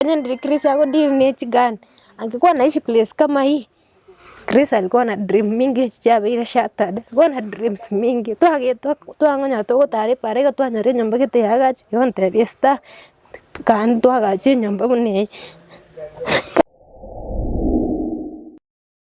Onye ndiri Chris ago ndiri ne ching'ani, angekwana ichi place kama hii, Chris ari kwana dream mingi echi chiabeire shattered, ari kwana dreams mingi, twagetwa twang'onya togotara epaara iga twanyora enyomba gete yagachi, igo ntebia Esther, kare twagachi enyomba buna eye.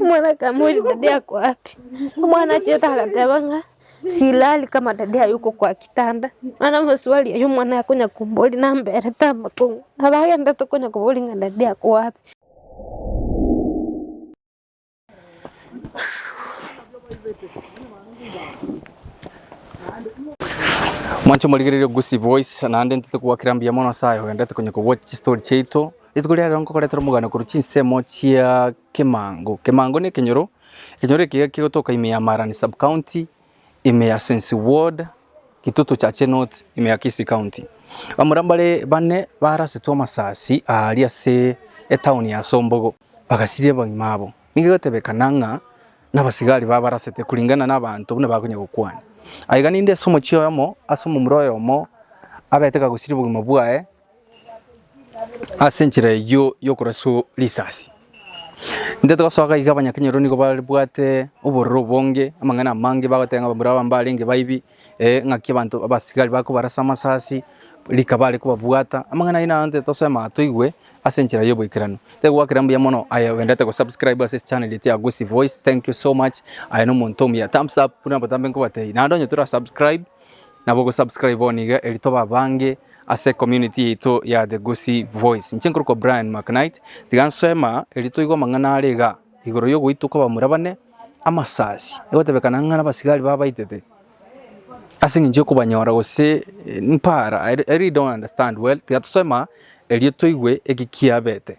Omwana akamori dadi ako api? Omwana achete agateba ng'a silali kama dadi aye uko kwa kitanda. Mana amaswali aye omwana akonya kombori namberete amakong'u. Nabo agende tokonya kobori ng'a dadi ako api? Mwanche morigereria Gusii Voice naende intwe togokera mbuya mono Nyasaye ogendete konya kobua chistory chiaito. Rituko ria rero nkogoretera omogano korwa chinsemo chia Kimango. Kimango na ekenyoro, ekenyoro eke iga kegotoka ime ya Marani Sub-County, ime ya Sensi Ward, Kitutu Chache North, ime ya Kisii County. Bamura mbare bane barasetwe amasasi aa aria ase etown ya Sombogo, bagasiria abagima abo. Nigo egotebekana ng'a nabasigari babarasete kuringana na abanto buna bakonya gokwana. Aiga ninde ase omochie oyomo ase omomura oyomo abete kagusiria obogima bwaye. Ase enchera eyio y'okoraswa risasi, intete gosoa gaiga abanyakenyoro nigo babwate obororo obonge, amang'ana amange bagoteba ng'a barabwo mbarenge baibi, eh, ng'aki abanto abasigari bakobarasa amasasi, rika bare kobabwata, amang'ana ayio naro intete tosoe amang'ana toigwe ase enchera y'oboikeranu. Nigo gwakera mbuya mono aye ogenderete go subscribe ase channel yetu ya Gusii Voice, thank you so much, aye na omonto omuya, thumbs up buna botambe nkobatebi, naende onye tora subscribe. Nabo ogo subscribe bono iga eri tobe abange ase community yaito ya The Gusii Voice. Inche nkorokwa Brian McKnight, tiga nsema eri toigwe amang'ana are iga igoro yogoitwa kobamura bane amasasi, egotebekana ng'a nabasigari babaitete ase eng'encho yokobanyora gose mpara, I really don't understand well, tiga tosema erio toigwe eki kiabete.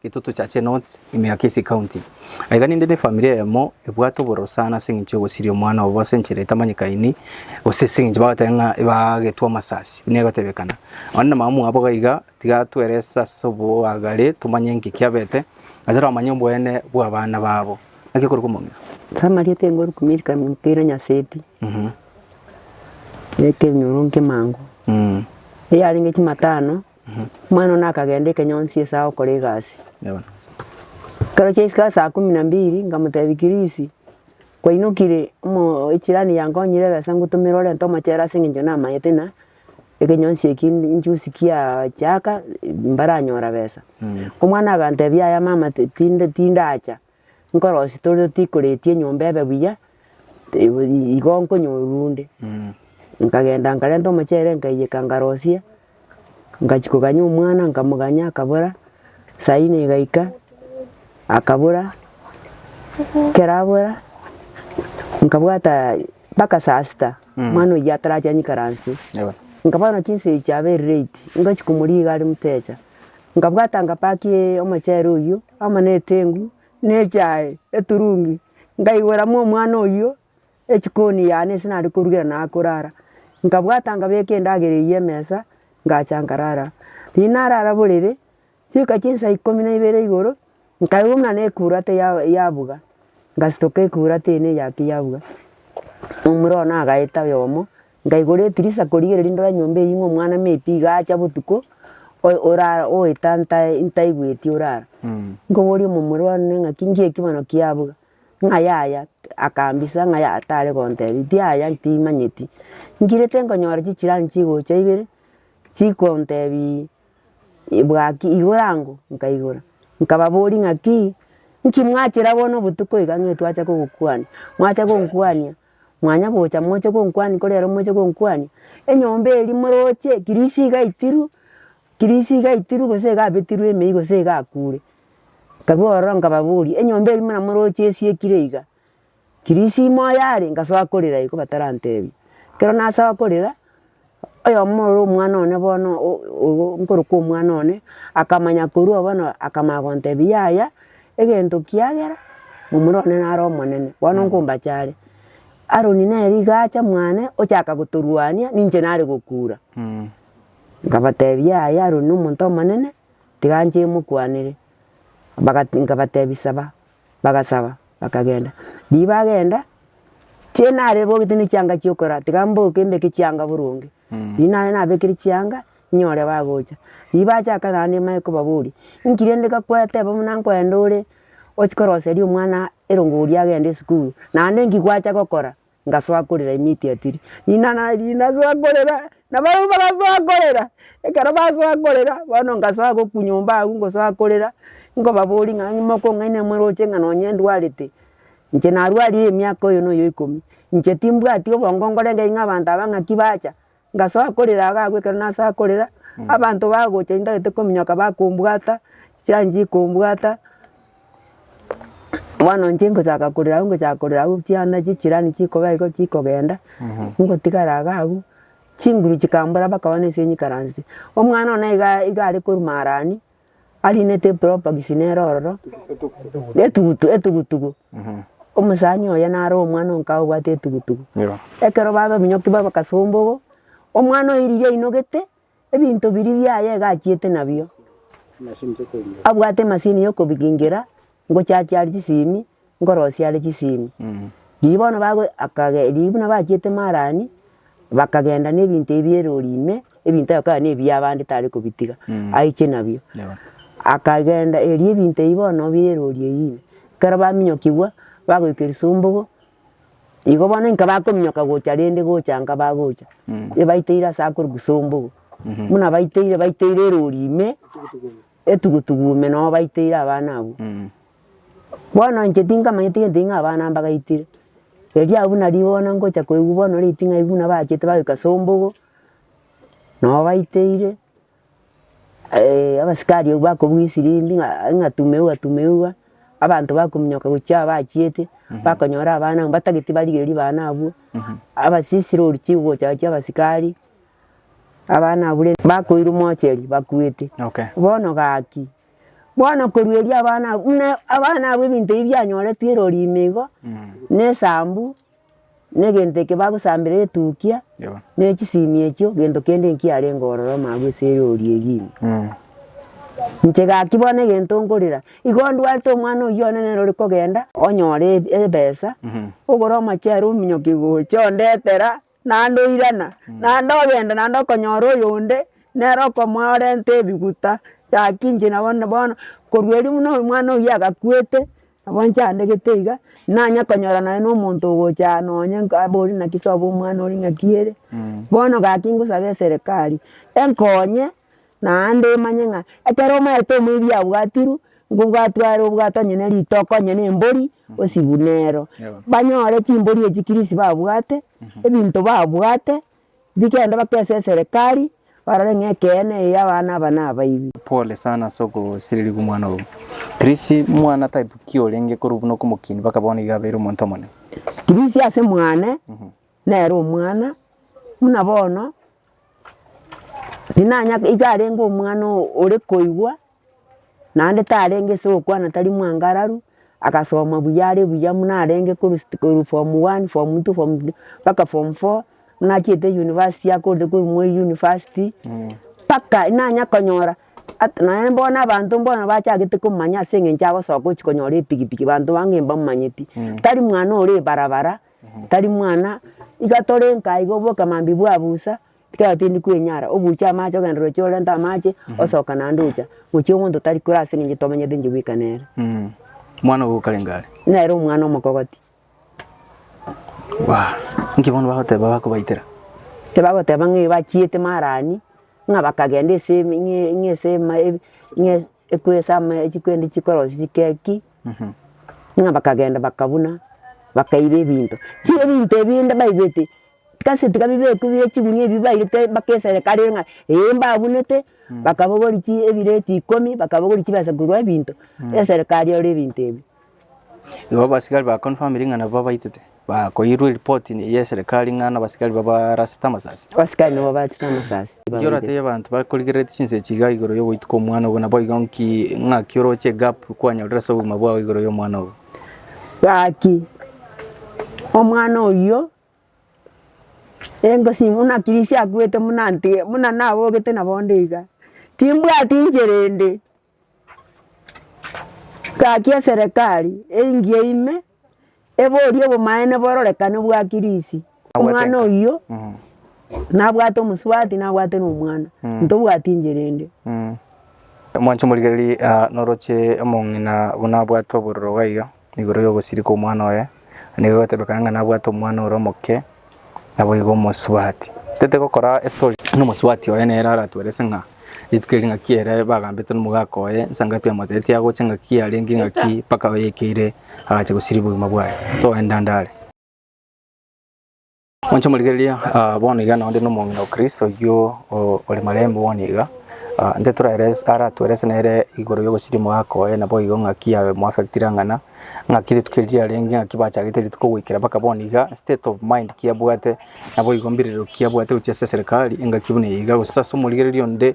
Getoto cha Chenot, Emiakese County. Aiga ninde nefamiri eyemo ebwate obororo sana ase eng'encho y'ogosiria omwana obo ase enchera etamanyekaini gose ase eng'encho bagoteeba ng'a ebagetwe amasasi buna egotebekana. Onde na mama mwabo gaiga tiga twerese ase oboagare tomanye enki kiabete naende toramanye oboene bw'abana babo. Naki okorokwa omong'ina? Samaria tenkorokwa Milka mpira Nyaseti, ekenyoro nkemango, eyarenge chimatano. Omwana one akagenda ekenyonsi esaa okora egasi. Ekero chiaisika asaa kumi na mbiri nkamotebia Kirisi, kwainokire echirani yankonyire ebesa ngotumere orente omochere ase eng'encho namanyete ng'a ekenyonsi eki injuzi kiachaaka mbaranyora besa. Omwana agantebia yaya mama tinde tindacha. nkorosia tore tikoretie enyomba ebe buya, igo igo nkonyorwa onde. Nkagenda nkarenta omochere nkaiyeka nkarosia, ngachia koganyia omwana nkamoganyia akabora, saa ine egaika akabora, ekero abora nkabwata mpaka saa sita omwana oyio atarachia nyeikaransie. Nkabana chinsa echio abeire late, ngachia komoriga are motecha. Nkabwata nkapaki omochere oyio amo na eteng'u na echae eturungi, nkaiboramo omwana oyio echikoni yane ase nare korugera naye akorara. Nkabwata nkabeka endagera eyio emesa, ngacha nkarara. Riria narara borere, chioka chia saa ikomi na ibere igoro, nkaigwa buna nekurate ya yabuga, ngasitoka ekurate ene eyake yabuga, omura one agaeta oyomo. Ngaigora etirisa korigereria ndore nyomba eyio ng'a omwana me pi iga acha botuko, oe- orara oeta ntae ntaigweti orara. Nkoboria omomura one ng'aki ngiye ki bono kiabuga, ng'a yaya, akambisa ng'a ya tare gontebi tiaya timanyeti. Ngirete nkonyora chichirani chigocha ibere, chikontebi bwaki igoro ango, nkaigora. Nkababoria ng'aki, nki mwachera bono obotuko iga ng'a etwacha kogokwania, mwacha gonkwania. Mwanya gocha moche gonkwania kore ero moche gonkwania, enyomba eria moroche kirisi iga itiru, kirisi iga itiru gose iga abetirwe emeyia gose iga akure. Nkabuga ororo nkababoria, enyomba eria buna moroche esiekire iga, kirisi imoyo are ngasoa korera igo batarantebia. Ekero nasoa korera. Oyomo ore omwana one bono nkorokwa omwana one, akamanya korwa bono akamanya gontebia yaya, egento kiagera momura one nare omonene, bono nkombacha are. Aroni nere iga acha mwane ochaka gotorwania ninche nare gokura. Nkabatebia yaya Aroni nomonto omonene, tiga nche mokwanere. Bagati nkabatebia saba. bagasaba bakagenda. Riria bagenda, chie nare bogete ne chianga chia okorara tiga mboke mbeke chianga boronge. Riria nare nabekire chianga, nyore bagocha. Riria bachaka naende nimanye kobaboria, inki rende gakwateba buna nkoenda ore ochi koroseria omwana erongo oria agende esukuru? Naende inki gwacha gokora? ngasoa korera immediately. Ng'ina nari nasoa korera, na barabwo bagasoa korera, ekero basoa korera, bono ngasoa gokwa nyomba agwo ngosoa korera, nkobaboria ng'a mokong'aini moroche ng'a nonye ndwarete, inche narwarire emiaka oyo na oyo ikomi, inche timbwati obongo nkorenta ng'a abanto aba ng'aki bacha, Ngasoa korera agagwa ekero nasoa korera, abanto bagocha intagete kominyoka bakombwata, chianchia kombwata, bono inche ngochaka korera agwo ngochaka korera agwo chianda chechirani chikoba igo chikogenda, ngotigara iga agwo, chinguru chikambora bakaba nase nyikaransete. Omwana one iga iga are korwa marani. arinete epropaxi nere ororo, etugutu etugutugu, omosani oye nare omwana o nkaye obwate etugutugu. Ekero babaminyokia babakasombogo, omwana oiririe ainogete, ebinto biria biaye iga achiete nabio, abwate emasini ya okobigingera, ngochiachie are chisemi, ngorosie are chisemi. Riria bono bago akage riria buna bachiete Marani, bakagenda na ebinto ebia erori ime, ebinto ebio bikaba na ebia abande tare kobitiga, aiche nabio. Akagenda erio ebinto ebio bono bire erori eyio ime. Ekero baminyokigwa, bagoika erisombogo, igo bono inka bakominyoka gocha rende gocha nka bagocha, ebateire ase akore gusombogo. Buna bateire, bateire erori ime. Etugutugu ime noo baiteire abana abwo. Bono inche tinkamanyeti gento ing'aa abana mbagaitire. Erio abwo nario bono ngocha koigwa bono oreti ng'ai buna bachete bagoika ase ombogo, noo baiteire, abasikari abwo bakobugia esirimbia ng'a ng'a tumeuwa tumeuwa, abanto bakominyoka gochia aa bachiete, bakonyora abana abwo mbatageti barigereria bana abwo, abasisiro oruchi gocha gochia abasikari. Abana abwo rende bakoirwa omocheri bakuete. Okay. Bono gaki. Bono korueria abana abwo buna abana abwo ebinto ebi bianyoretwe erori ime igo, ne esambu, ne egento eke bagosambera etukia, Yebo. ne echisimi echio, gento kende nkiarenge ororo mambia ase erori eyio ime. Mm. Inche gaki bono egento nkorera, igo ndwate omwana oyio one nere ore kogenda, onyore eb- ebesa, ogore omochere ominyoke gocha ondetera, naende oirana, naende ogenda naende okonyora oyonde nere okomoa orente ebiguta gaki inche nabo na bono korwa erio buna omwana oyio agakuete nabo inche andegete iga nanya konyora naye na omonto ogocha aa nonye nka abori naki sobo omwana oria ng'aki ere. Bono gaki ngosabe eserekari enkonye. Naende omanye ng'a ekero omaete omoebi abwatirwe, nigo bwatware obwato onye ne ritoko onye na embori osibwe nero. Banyore chimbori echi kirisi babwate, ebinto babwate, bigende bakese eserekari, barore ng'a ekeene eye abana aba nabaibwe. Pole sana ase ogosirerigwa omwana ogo. Kirisi mwana type ki orenge korwa buna okomokinia mpaka bono iga abeire omonto omonene? Kirisi ase mwane, nere omwana, buna bono. Tinanya iga arenge omwana oo ore koigwa, naende tarenge ase ogokwana tari mwangararu, agasoma buya are buya buna arenge korwa sta korwa form one, form two, form three, mpaka form four, buna achiete university akorete korwa moi university, mpaka nanya konyora at naende bono abanto bono bachagete komanya ase eng'encho agosoka gochi konyora epikipiki, banto bange mbamanyeti, tari mwana ore ebarabara, Tari mwana, iga tore nka iga oboke mambia bwa busa, ekero tindi kwenyara, obuche amache ogende roche orente amache, osoka naende ocha, gochia omonto tari kore ase eng'encho tomenyete inche bweka nere. Mwana ogo okarenge are. Nere omwana omokogoti. Bwa, inki bono bagoteba bakobaitera? Tibagoteba ng'a bachiete marani, ng'a bakagenda ase eme ng'a ase ema ebe ng'a ase. Ekwesama ya chikwendi chikorosia chikeki, buna bakagenda bakabuna, bakaiba ebinto. Tiga ebinto ebinde baibeti, kasi tiga bibekwe bire chigunia ebi bairete bakesere kare ng'a ee mbabunete, bakabogori chi ebireti ikomi, bakabogori chibesa korwa ebinto, eserikari ore ebinto ebi. Igo abasigari bakonfamire ng'a nabo babaitete, bakoirwa eripoti y'eserekari ng'a nabasigari babarasete amasasi. Abasigari nigo barasete amasasi. Nki oratebie abanto bakorigereretie chinsechi igaa igoro y'ogoituka omwana obo, naboigo nki ng'aki oroche egap kwanyorire ase obogima bwao igoro y'omwana obo? Gaki, omwana oyio, engosi buna kirisia akwete buna ntige, buna nabogete nabonde iga, timbwati inchera ende. Gaki eserekari engiya ime eborie obomaene bororekane bwa Kirisi, omwana oyio nabwate omosubati nabwate na omwana, ntobwati enchera ende. Mwanche omorigererie, noroche omong'ina buna abwate obororo gaiga. Igoro y'ogosirika omwana oye, na nigo egotebekana ng'a nabwate omwana ore omoke, naboigo omosubati. Tete gokora estory. Buna omosubati oye nere aratuelese ng'a rituko eri ng'aki ere bagambete nomogaka oye, nsa ngapi amotetetie agocha ng'aki arenge ng'aki mpaka oyekeire agacha gosiria obogima bwaye. Toenda ndare. Monche morigereria, ah, bono iga nonde nomong'ina o Kristo oyio o- ore marembe bono iga, ah, nde toraeres- aratuerese nere igoro y'ogosiria omogaka oye, naboigo ng'aki abe moafectire ang'ana, ng'aki rituko eri riarenge, ng'aki bachagete rituko goikera mpaka bono iga, state of mind ki abwate, naboigo mbirerero ki abwate gochia ase eserekari, engaki buna eye iga, gose ase omorigereria onde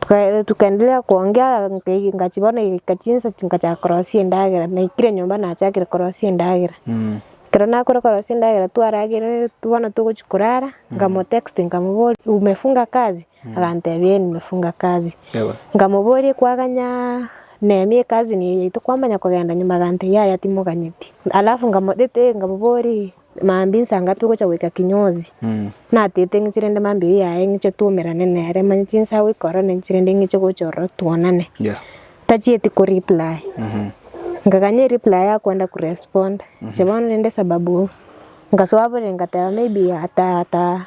Tuka tukaendelea kuongea ngai- ngachi bono egaika chinsa chingachaka korosia endagera, naikire nyomba nachakire korosia endagera. Ekero nakore korosia endagera twarageire tu bono togochia korara, nkamotexti nkamobori umefunga kazi? Agantebia eh nimefunga kazi. Ewe. Nkamoboria kwaganyaa nemi ekazi neye tokwamanya kogenda nyuma? Agantebia yaya timoganyeti. Alafu nkamotete nkamobori Mambia inse anga togocha goika kinyozi, natete ng'eche rende mambia oyo yaye ng'eche twaumerane nere, manye chinse agoika ororo naiche rende ng'eche gocha ororo twonane. Yeah. Tachieti ko reply. Nkaganya ereply akwenda ko respond. Inche bono rende sababu nkasoa bore nkateba maybe ata ata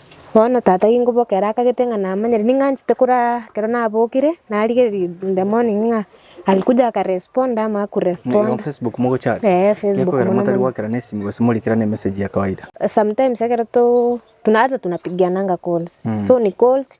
Bono tata ginkoboka ere akagete ng'a namanyire ning'anchete koraa ekero nabokire narigereria in the morning ng'a alikuja aka respond ama aku respond. Facebook mogochati? Eeh Facebook Gekogera mono motari mono. goakera na esimi gose morikera na emessage ya kawaida. Sometimes ekero to tuna hata tunapigiananga calls. So ni calls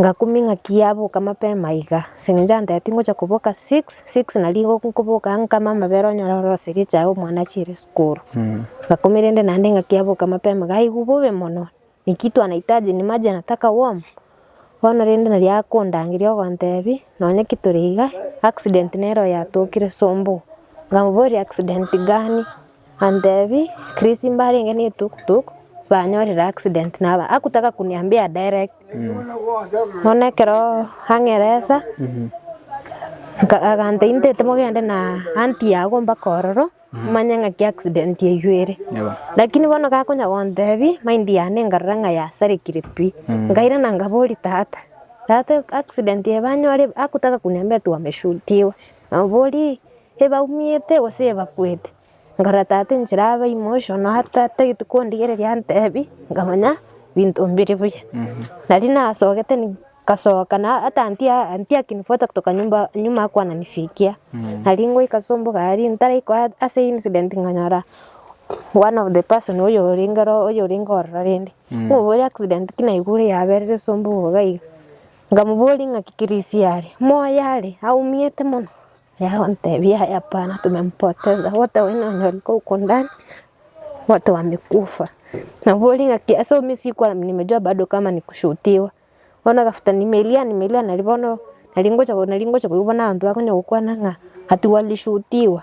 Ngakuming'a ki yaboka mapema iga? Ase engencho antebia tingocha koboka six, six na rigo nkoboka nkame amabere onyore ore gose egechae omwana achiire esukuru. Ngakumia rende naende ng'aki yaboka mapema iga aigwe bobe mono ni kitu anahitaji ni maji anataka warm. Bono rende nari akondangeria ogontebia nonya ki tore iga accident nere oyo atokire sombugo. Nkamoboria accident gani? Antebi, Chris mbarenge ne tuk tuk banyorire accident naba akutaka kuniambia direct. Bono ekero ang'eresa nka- aganta inte timogende na auntie yago mpaka ororo manye ng'aki accident eywo ere. Yebo. Lakini bono gakonya gontebi mind yane nkarora ng'a yasarekire pi. Nkairana nkaboria tata, tata accident eye banyore akutaka kuniambia ati wameshutiwa. Nabo boria ebaumiete gose ebakwete, nkarora tata enchera abe ime oiso, nonya tagete kondigereria antebi, nkamanya binto mbire buya. Nari nasogete nkasoka na hata ntiakinifuata kutoka nyumba nyuma ya kuananifikia. Nari ngoika ase omboka aria ntaraikwa ase incident nkanyora one of the person oyorenge ororo rende. Oboria accident ki naigure yaberire ase omboka iga iga. Nkamoboria, Ng'aki Kirisi are? Moyo are aumiete mono. Yagotebia, Hapana, tumempoteza, wote oyo nonyore kogokundani, wote owambe kofa. Nkamoboria, Ng'aki ase omisia ikoro nimejua bado kama ni kushuutiwa? Bono agafuta, Nimelia, nimelia, nari bono nari ngocha koigwa bono abanto bakonya gokwana ng'a atigwe arishuutiwa.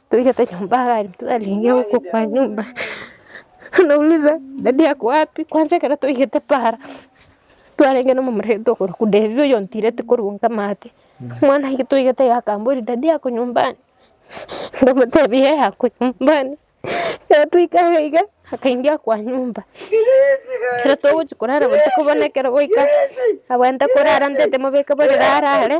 Toigete nyomba iga twarenge gokwa kwa nyomba nauliza dady ako wapi kwanza ekero toigete para twarenge na omomura tokorokwa Davie oyo ontireti korwa nkamate omwana aike toigete iga akambori dady ako nyumbani nkamotebia ee ako nyumbani ekero twaika iga iga akaingia kwa nyomba ekero togochia korara botuko bono ekero gwaika abwate korara ntete mobeke borere arare.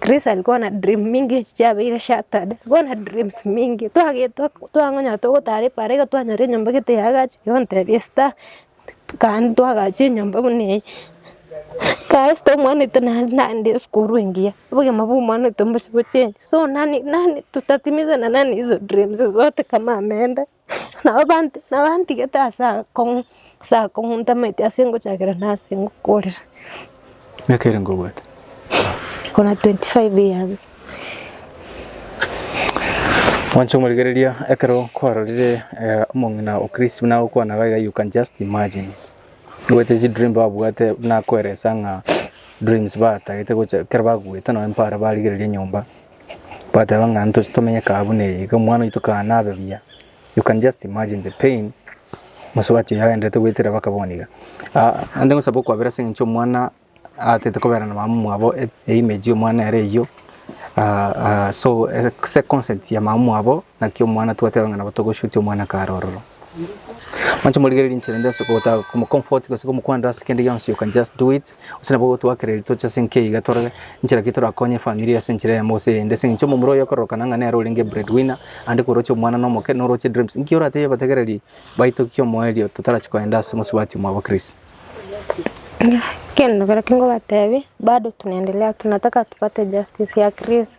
Chris ari kona dream mingi echi chiabeire shattered, kona dreams mingi twagetwa twang'onya togotara epaara iga twanyora enyomba gete yagachi igo ntebia esther kande twagachi enyomba buna eye kae esther omwana oito naende nande esukuru engiya obogima bwa omwana oito mbosi bochengi so nani nani tutatimiza na nani hizo dreams zote kama ameenda. Nabo bant- nabantigete ase akong'u- ase akong'u ntamaeti ase ngochakera na ase ngokorera. Miaka ere nkobwate? Niko na 25 years. Mwanche omorigereria ekero kwarorire eh, omong'ina o Chris buna agokwana iga iga you can just imagine. Ogoite chidream babwate buna akoelesa ng'a dreams batagete gocha ekero bakuete nonye mpare barigereria nyomba. Bateba ng'a ntoche tomenye kaa buna eye, iga omwana oito kaa nabe buya. You can just imagine the pain omosubati oyo agenderete goetera baka bono iga. Naende ngosaba okwabera ase eng'encho omwana atete kobera na mama mwabo e- image y'omwana ere eyio, so ase consent ya mama mwabo. Naki omwana twateba ng'a nabo togoshutia omwana kare ororo. Moche morigererie inchera ende ase gotaka komocomfort gose komokwanera ase kende gionsi you can just do it. Gose nabo gotoakereria toche ase enka iga torore inchera ki torakonye efamiri ase enchera eyemo gose eyende. Ase eng'encho omomura oyo okororokana ng'a nere orenge bread winner naende koroche omwana na omoke noroche dreams. Inki oratebie abategereri baito ki omoerio totarachi koenda ase mosubati mwabo Chris? Ekero nkobatebia bado tunaendelea tunataka tupate justice ya Chris.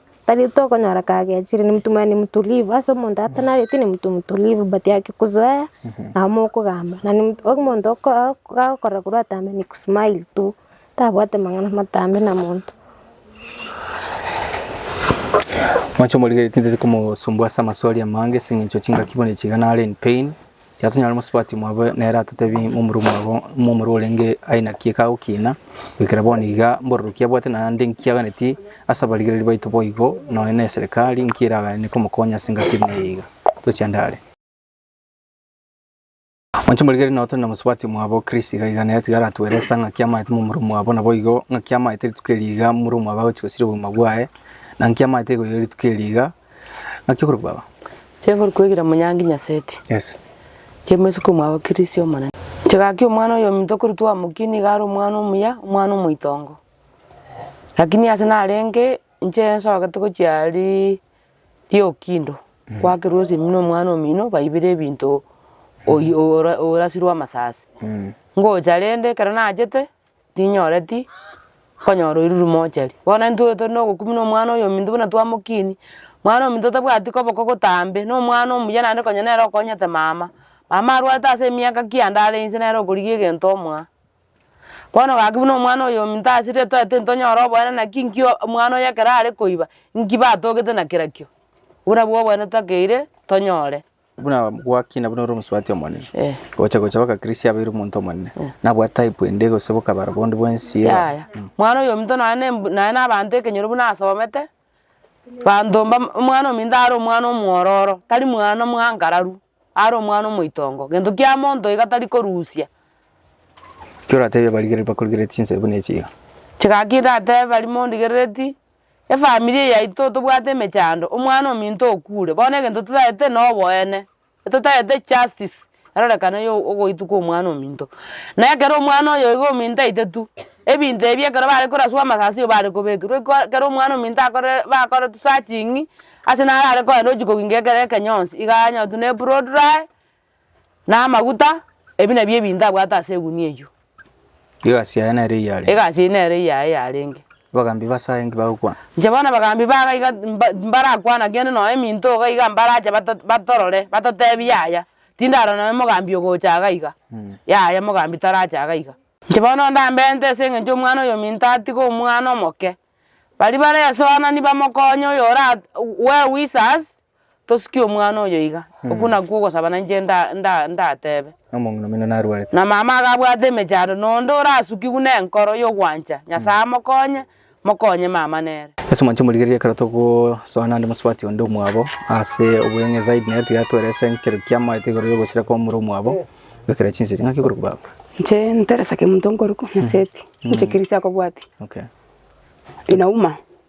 Tari tokonyora kagechire ni mtu mani mtulivu ase omonto atanabeti ni mtu mtulivu but akikuzoea nabo mokogamba na ni mtu omonto oko- gagokora korwa atambe ni kusmile tu tabwate mang'ana matambe na monto. Mwanche omorigeretie tari komosumbua ase amaswali amange ase eng'encho chingaki buna ichiga nare in pain. Yatonyare mosubati mwabo nere atatebie momura mwabo momura orenge aye naki ekagokina goikera bono iga mbororokia abwate naende nki aganeti ase abarigereri baito boigo nonya ne eserekari nki eragane komokonya ase engaki eri neye iga toche ande are. Oche morigererie nao tore na mosubati mwabo Chris iga iga nere tiga aratueresa ngaki amaete momura mwabo naboigo ngaki amaete rituko eri iga momura mwabo agochi gosiria obogima bwaye na nki amaete goiga rituko eri iga Naki okorokwa aba. Chi'okorokwa egira Munyangi Nyaseti. Yes. Chi'omoiseke omwabo Kirisi Omonene. Chi'gaki omwana oyominto okorutwa omokie nigo are omwana omuya, omwana omoitongo. Lakini ase narenge inche nsogete gochia ri riokindo, kwakerwa ase eminwe omwana omino baibera ebinto oyi- ora- orasirwe amasasi. Ngocha rende ekero nachete. tinyoreti konyora oirwe mochari. Bono intwe tore na ogokumia na omwana oyominto buna twamokinia, omwana oyominto otabwati koboko gotambe, na omwana omuya naende konya nere okonyete mama, mama arwate ase emiaka ki ande are inse nere okorigia egento omoa. Bono gaki buna omwana oyominto ase ritoe tintonyora oboene naki nki omwana oye ekero are koiba, nki batogete na kerakio, obwo nabwo oboene totakeire tonyore. Buna gwakina buna ore omosubati omonene, gocha gocha baka Christ abeire omonto omonene, nabwate type ende gose bokabaro bonde bwensi eye. Yaya, mwana oyominto nonya na emb- nonya na abanto ekenyoro buna asomete, banto mba omwana ominto are omwana omwororo, tari mwana omwankararu, are omwana omoitongo, gento kia monto iga tari korusia. Ki oratebie abarigereri bakorigeretie chinse buna echi iga? Chigaki ndatebe baria mondigerereti. Efamiri yaito tobwate emechando, omwana ominto okure, bono egento totagete noboene, totagete justice erorekane ya ogoitwa kwa omwana ominto. Na ekero omwana oyo iga ominto aitetu, ebinto ebi ekero bare koraswa amasasi igo bare kobekerwa iko ekero omwana ominto akorire bakoretwe searching, ase naro are kogenda ochi koginga ekero ekenyonsi iga anyorwe buna eplot dry. Na amaguta, ebi nabio ebinto abwate ase egunia eyio. Egasi yaye nere eyarenge. Egasi eyio nere eyaye yarenge. Abagambi base aye inki bagokwana? Inche bono abagambi ba iga mba- mbarakwana kende nonye eminto iga iga mbarache bato batorore batotebie yaya, tindarora nonye omogambi ogocha iga iga, yaya omogambi tarache iga iga. Inche bono ndambente ase eng'encho omwana oyo ominto atige omwana omoke, baria bare esoanani bamokonye oyo ora we- wisa ase Tosukia omwana oyo iga, okwo nakwo ogosaba nainche nda- nda- ndatebe. Na omong'ina omino narwarete. Na mama akabwata emechando, na onde orasukigwe nenkoro y'ogwancha Nyasaye amokonye, mokonye mama nere. Ase omoancho omorigereria ekero togosoa naende mosubati onde omwabo ase obweng'e zaidi nere tiga atwere ase ekero kiamaete igoro y'ogosira kwa omura omwabo, bekera chinsechi. Ng'aki okorokwa baba? Inche Teresa Kemunto nkorokwa, Nyaseti, inche ekeresia akobwatia, Okay. Inauma.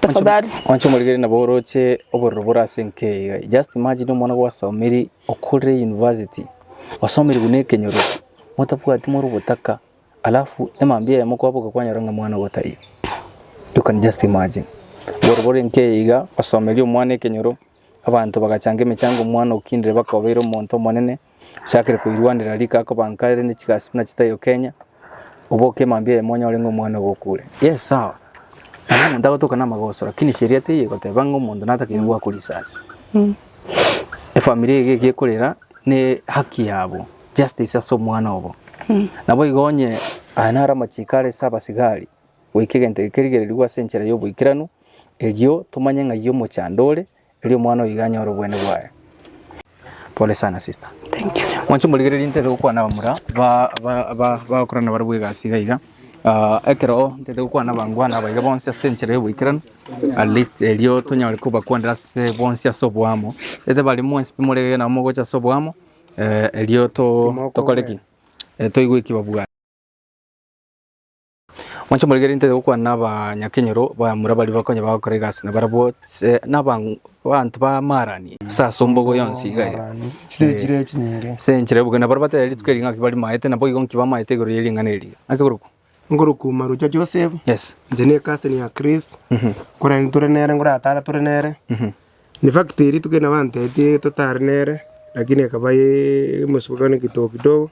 Tafadhali. Wanche omorigeri nabo oroche obororo bore ase enkeyo iga. Just imagine omwana gwasomiri okorire university, osomire buna ekenyoro, motabwati more obotaka, alafu emambia eyemo kwaboka kwanyora ng'a omwana ogo taiyo. You can just imagine. Obororo bore enkeyo iga, osomeria omwana ekenyoro. Abanto bagachanga emechango omwana okindire bakobeire omonto omonene ochakire koirwanera rika akobanka ere ne chigasi buna chitaiyo Kenya oboke emambia eye monyore ng'a omwana ogo okure. Yes sawa nabo omonto agotoka namagoso lakini sheria teiyo egoteba ng'a omonto natakeire goakwa risasi. Efamiri eye geki ekorera ne haki yabo justice ase omwana obo. Naboigo onye aya naro amachiko are ase abasigari goika egento gekerigererigwe ase enchera y'oboikeranu, erio tomanye ng'ai omochando ore, erio omwana oyo iga anyore obweene bwaye. Pole sana sister. Thank you. Mwanche morigererie ntete gokwana abamura ba- ba- ba- bagokorana barabwo egasi iga iga. Ah, ekero ntete gokwana abangwana aba iga bonsi ase enchera y'oboikeranu, at least erio tonyare kobakwanera ase bonsi ase oboamo. Ntete baria mwensi pi morege nabo mogocha ase oboamo, eh, erio to- tokore ki? Eh, toigwe ki babwate. Mwanche moregerie intete gokwana n'abanyakenyoro bamura baria bakonya bagokora egasi na barabwo se- n'aban- abanto b'amaarani ase asombogo yonsi iga eye. Chitiri chire echi nyinge. Ase enchera y'oboke, na baria bataiyo rituko eri ng'a ki barimaete, nabo igo nki bamaete igoro ye ring'ana eri. Naki korokwo? Nkorokwo Marucha Joseph, Yes. inche ne cousin ya Chris, korende tore nere ngoratara tore nere, In fact eri tuko nabo antetie totare nere lakini akaba ee mosubokano kidogo kidogo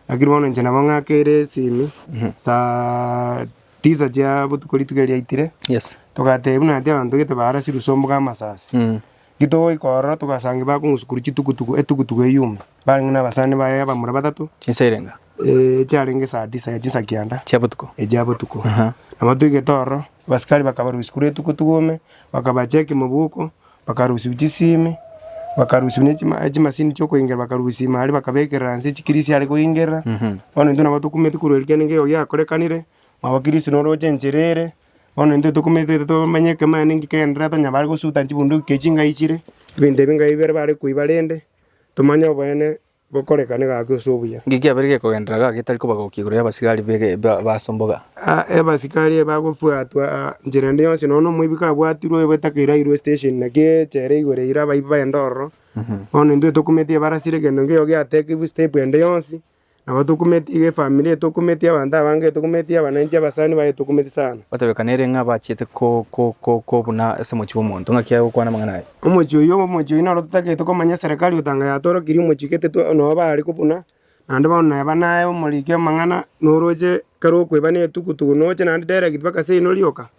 lakini bono inche nabo ng'akere esimi saa tisa chia botuko rituko erio riaitire Yes. togateba buna naende abanto gete barasirwe ase ombuga amasasi. Eki togoika ororo togasanga bakong'usukuru chitukutuku etukutuku eyume. Barenge nabasani baye abamura batato, Chinsa erenga. ee, chiarenge esaa tisa ya chinsa kianda Chia botuko. echia botuko. Aha. Na batwegete ororo, abasikari bakabarusia korwa etuko tugome, bakabacha ekemoboko, bakarusiu chisiimi, bakarusiu ne chima- echimasini chiokoingera, bakarusia ime aria bakabekerera nse chikirisi are koingerera. Bono intwe nabo tokumeti korwa erio kiagera nigo giakorekanire, mwabo Kristo noroche enchera ere, bono intwe tokumete tomanye ekemo yaye ninki kegenderere, tonyabare gosuta chibunduki echio chingai chire, ebinto ebinga ebi bire bare koiba rende. Tomanye oboene bokorekane gake ase obuya. Inki kiabeire gekogenderera gaka getari koba gokia igoro y'abasigari b'asomboga? Abasigari eye bagobwatwa nchera ende yonsi, nonya nomoibi kabwatirwe oyoba etaka erairwe esitesheni, naki echere igoro eira abaibi baende ororo. Bono intwe tokumete ebarasire egento nkeiyo giatekigwe step ende yonsi, Nabo tokumeti iga efamiri, etokumeti abanto abange, etokumeti abananchi, abasani baye etokumeti sana. Batebekaneirie ng'a bachiete kobuna ase omochie bw'omonto, ng'aki agokwana amang'ana aye. Omochie oyio obe omochie oyio noro totagete komanya eserekari otanga yatorokirie omochie gete twa noo bare kobuna, naende bono neba naye omoriki amang'ana noroche kare okoeba ne etuku tuku noche naende direct mpaka seino rioka,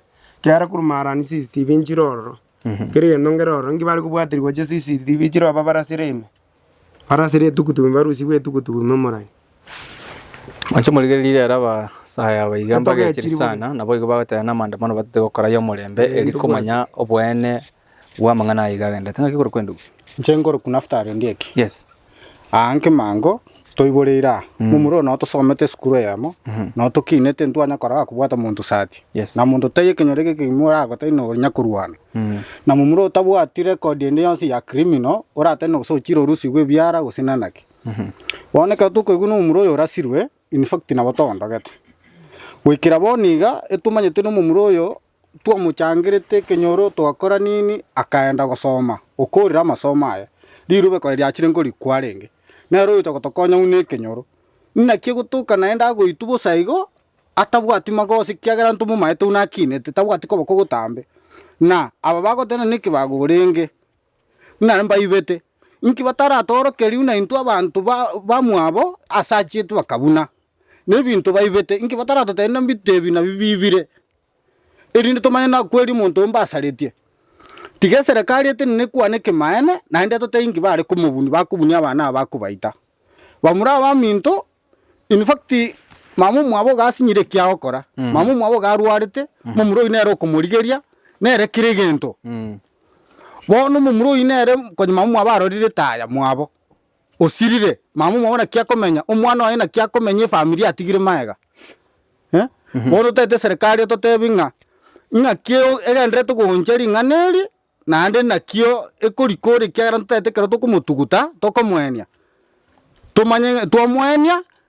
kiara korwa maarani CCTV nchire ororo, kera egento nkere ororo, nki bare kobwaterigwa gochia CCTV chire obabare asere ime. Barasire etugutu ime, barusigwe etugutu ime morai. Mwanche morigererie riire abasaae aba iga mbagechiri sana, naboigo bagoteba namaandamano batete gokora ay'omorembe, eri komanya oboene bw'amang'ana aya iga agendete. Ng'aki korokwa endubi? Inche nkorokwa Naftali ondieki. Yes. Aa nkemango. Toiboreire aa, momura oyo nao tosomete esukuru eyemo, nao tokinete ntwanya korora kobwata monto sati, na monto tai ekenyoro eke kegima oragotai nonya korwana. Na momura otabwati record ende yonsi ya criminal oratari nogose ochire orusigwe ebiara gose nanaki. Bono ekero tokoigwa nomomura oyo orasirwe, in fact nabo tondogete. Goikera bono iga, etomanyete nomomura oyo twamochangerete ekenyoro twakora nini, akaenda gosoma okoorire amasomo aye. Riruba ekore riachire nkorikwa arenge, nere oyocha gotokonya buna ekenyoro. Inaki egotoka naende agoitwa bosa igo, atabwati magoso ekiagera ntomomaete buna akinete, tabwati koboko gotambe. Na aba bagoteba nere ekebago orenge, nare mbaibete. Inki bataratoorokerie buna intwe abanto ba bamwabo ase achiete bakabuna? Na ebinto baibete, inki bataratotebia nabito ebi nabi bibire? erinde tomanye nakweri omonto mbasaretie. Tiga eserekari etenene ekwane ekemanene, naende etotebie inki bare komobuni, bakobunia abana aba bakobaita. Bamura abaminto, in fact mama omwabo iga asinyire ekia gokora, mama omwabo iga arwarete, momura oyio nere okomorigeria, nere kera egento. Bono momura oyio nere, konya mama omwabo arorire taya mwabo, osirire, mama omwabo naki akomenya, omwana oye naki akomenya efamiri atigire magega. Eh, bono otagete eserekari ototebi ng'a ng'aki o- egendererete gocha ring'ana eri, naende nakio ekorikora ekiagera ntotagete ekero tokomotuguta, tokomoenia, tomanye ng'a twamoenia.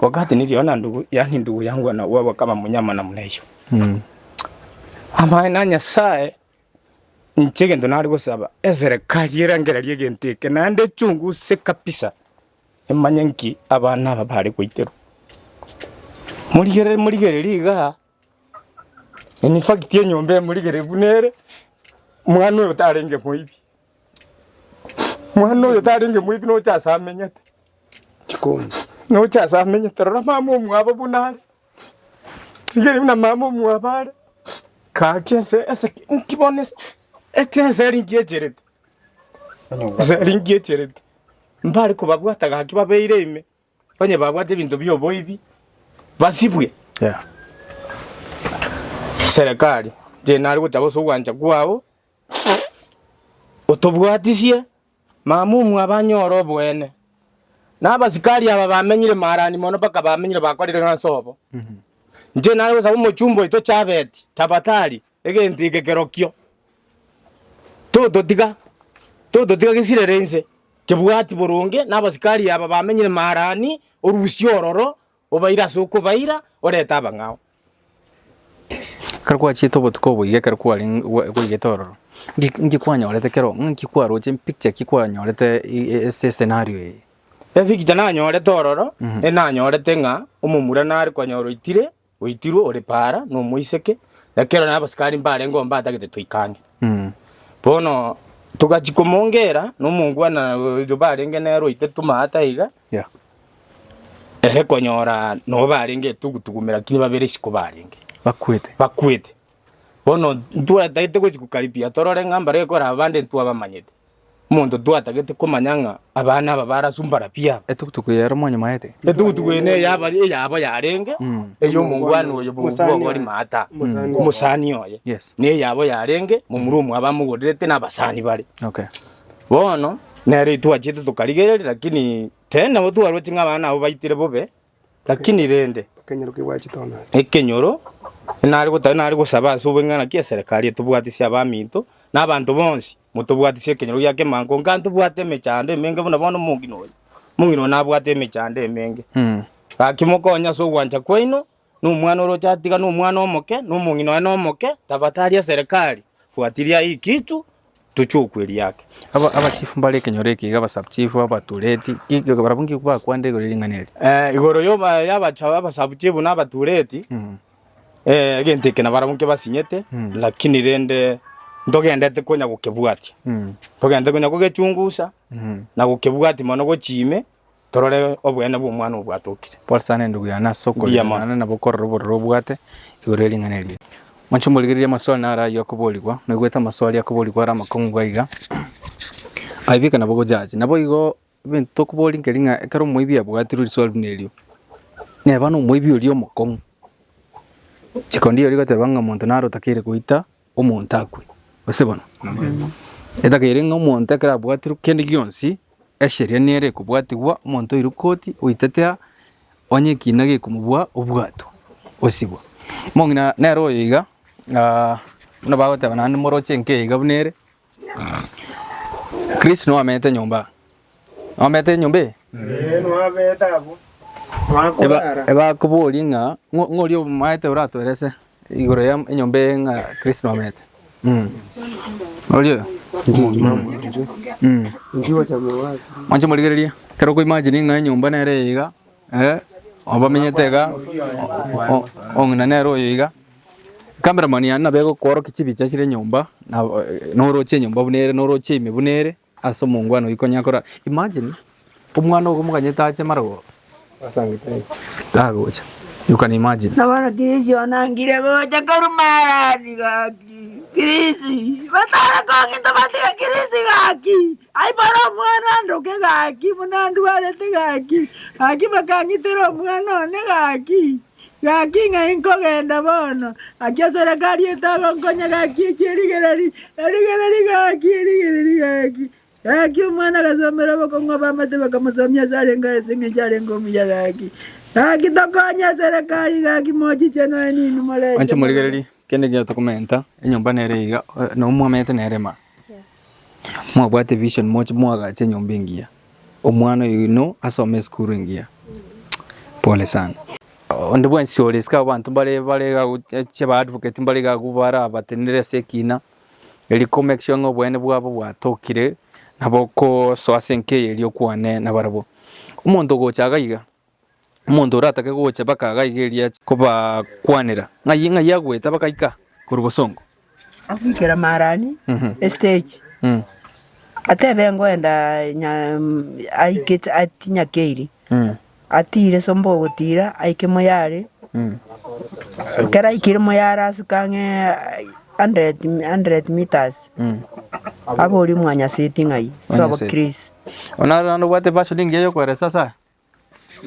Wakati nikiona ndugu, yani ndugu yangu anauawa kama mnyama namna hiyo. Mm. Ama na Nyasaye nche gento nari gosaba eserekari erangererie gento eke naende chunguse kabisa emanye nki abana aba bare goiterwa. Morigereri morigereri iga In fact enyomba emorigereri buna ere, mwana oyo tarenge moibi. Mwana oyo tarenge moibi noche ase amenyete. Noche ase amenyete rora mama omwabo buna are. Rigerio buna mama omwabo are, gaki ase ase inki bono ase ase eseri inki echerete. Eseri inki echerete. Mbare kobabwata gaki babeire ime. Onye babwate ebinto bi'oboibi basibwe. Serekari, inche nare gotaba ase ogwancha kwao, otobwatisie mamumu abanyore oboene. Na abasikari aba bamenyire maarani mono mpaka bamenyire bakorire ng'a nsobo. Inche nare gosaba omochumba oito Chabeti, tafadhali Egento eke kerokio tototiga, tototiga gesirere inse, kebwati boronge nabasikari aba bamenyire Maharani, orusie ororo, obaire ase okobaira, orete abang'ao. Ekero gwachiete obotuko obo iga ekero kwarenge gwa- gwaigete ororo, nki nki kwanyorete kero ng'a nki kwaroche mpicture ki kwanyorete i- i- ase escenario eye? Epikicha nanyorete ororo, enanyorete ng'a omomura nare konyora oitire, Oitirwe ore paara nomoiseke, ekero nere abasikari mbarengeo mbatagete toike ang'e. Bono togachia komongera nomongwana oyio barenge nere oite tomaate iga, Yeah. ere konyora nabo barenge etugutugume lakini babere isiko barenge Bakwete. bakwete. Bono ntwatagete gochia kokaribia torore ng'a mbare ekore abande ntwabamanyete. Omonto twatagete komanya ng'a abana aba barasumbana pi aba. Etugutugu eye ere omonyamaete. Etugutugu eye neye aba eyabo yarenge ey'omongwana oye bw'ogori maata, omosani oye. Yes. Neyabo yarenge momura omwa abamogorerete na abasani bare. Okay. Bono nere twachiete tokarigereria lakini tene nabo twaroche ng'a abana abo baitire bobe Lakini rende, ekenyoro inare gotari nare gosaba ase obong'ina naki eserekari etobwatisie abaminto na abanto bonsi, motobwatisie ekenyoro gia kemango, onga ntobwate emechando emenge buna bono omong'ina oyo. Omong'ina oyo nabwate emechando emenge. Gaki mokonye ase ogwancha kwaino, na omwana oroche atiga na omwana omoke, na omong'ina oye na omoke, tafatari eserekari, fuatilia hii kitu. tochie okwa eria ake. Aba abachifu mbare ekenyoro eke iga abasabuchifu, abatureti, ki- barabwo nki bakwanda igoro y'ering'ana eri? Eh, igoro yoba- y'abacha- y'abasabuchifu na abatureti, Mm. eh, egento eke nabarabwo nkio basinyete, Mm. lakini rende ntogendete konya gokebwatia. Mm. Togendete konya kogechungusa, Mm. na gokebwatia mono gochia ime, torore obweene bw'Omwana obwatokire. Pole sana endugu yane ase okorirana na bokorora obororo obwate igoro ye ring'ana eria. Mwanche morigererie amaswali naro ayio akoborigwa. Naigwete amaswali akoborigwa are amakong'u iga iga. Aibeke nabo gojaji. Naboigo ebinto tokoboria nkeri ng'a ekero omoibi abwatirwe riswali buna erio neba nomoibi oria omokong'u. Chiko ndiri goteba ng'a omonto naro otakeire goita omonto akwe, gose bono? Etagera ere ng'a omonto ekero abwatirwe kende gionsi, esheria nere ekobwatigwa, omonto oirwe koti oitete aa, onye ekiina gekomobua obwatwa, osibwa. Omong'ina nere oyo iga, buna bagoteba naende moroche enka iga buna ere. Chris noamete nyomba noamete nyomba eye Eh, nwabete abwo nwakorara ebakoborie ng'a ng'o- ng'oria omaete oratoerese igoro ya enyomba eye ng'a Chris noamete Mm. oria oyo Mm. mwanche morigererie ekero okoimagine ng'a enyomba nere eye iga eh, obamenyete iga o- o- ong'ina nere oyo iga Nkabera mani aye nabe gokworokia chibicha chire enyomba na noroche enyomba buna ere noroche ime buna ere ase omongwana oyio konya kora imagine omwana ogo moganyete ache marogoro tagocha you can imagine Na bono Chris onangire gocha korwa Marani gaki. Chris, batara kong'ita batiga Chris gaki. Aibore omwana andoke gaki, buna ndwarete gaki. Gaki bakang'itera omwana one gaki. Gaki ng'a inkogenda bono, gaki eserekari etagonkonya, gaki echi erigereri, erigereri, gaki erigereri, gaki. Gaki omwana agasomera obokong'u abamate bakamosomia ase arenge aa ase eng'encho arenge omuya, gaki. Gaki tokonye eserekari, gaki mochiche noe ninwe moreche Mwanche mobe. morigererie kende ekiagera tokomenta enyomba nere iga, eh, nabo mwamenyete nere maa. Mwabwate vision moche moagache enyomba engiya. Omwana oino asome esukuru engiya. Pole sana. Onde bwensi ore isiko abanto mbare bare iga gocha ba advocate mbare iga abwo barabatenenere ase ekina eri ko make sure ng'a obweene bwabo bwatokire nabo okosoa ase enka eye eri okwane nabarabwo. Omonto ogocha iga iga Omonto oratake gocha baka iga iga eria ache kobakwanera, ng'ai ng'ai agwete abagaika korwa bosongo. Agoikera Marani estage, atebe ngoenda aikete atinyakeiri, atiire somba ogotiira aike moyare, ekero aikire moyare asuke ang'e hundred hundred metres, aborie omwanyaseti ng'ai ase obokristo. Onarora naende obwate version engiya yokoeresa ase aya.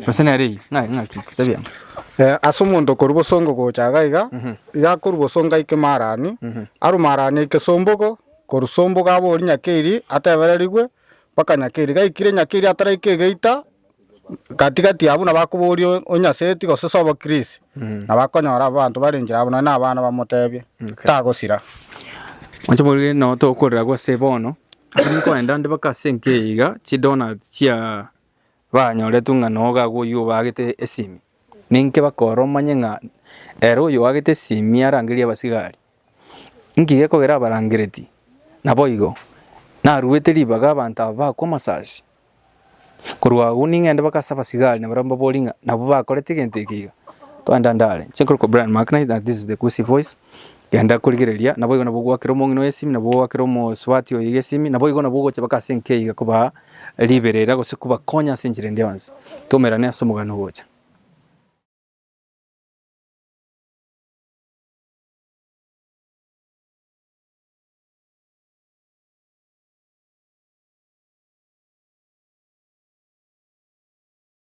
Gose nere eye, ng'ake, ng'ake, tebia. Eh, ase omonto okorwa bosongo gocha iga iga, iga akorwa bosongo aike Marani, arwe Marani aike Sombogo, korwa Sombogo abori Nyakeiri, atebererigwe mpaka Nyakeiri. Gaikire Nyakeiri ataraika egeita, gatigati abwo nabo akoboria o- onyaseti gose sobo Chris, nabo akonyora abanto bare enchera abwo nonye na abana bamotebia, tagosira. Mwanche moige nabo tokorera gose bono, ase nkoenda nde mpaka ase enka eye iga, chidonuts chia. banyoretwe ng'a nogaka oyio obaagete esimi, ninki bakore omanye ng'a ere oyo oagete esimi arangerie abasigari? Inki gekogera abarangereti? Naboigo naruete ribaga abanto aba bakwe amasasi. Korwa agwo ning'ende baka ase abasigari na barabwo mbabori ng'a nabo bakorete egento eke iga, twende andare. Genda korigereria, naboigo nabwo ogwakera omong'ina oye esimi, nabwo ogwakera omosubati oye esimi, naboigo nabwo ogocha baka ase enka eyio kobaa riberera gose kobakonya ase enchera ende yonsi. Tomerane ase omogano ogocha.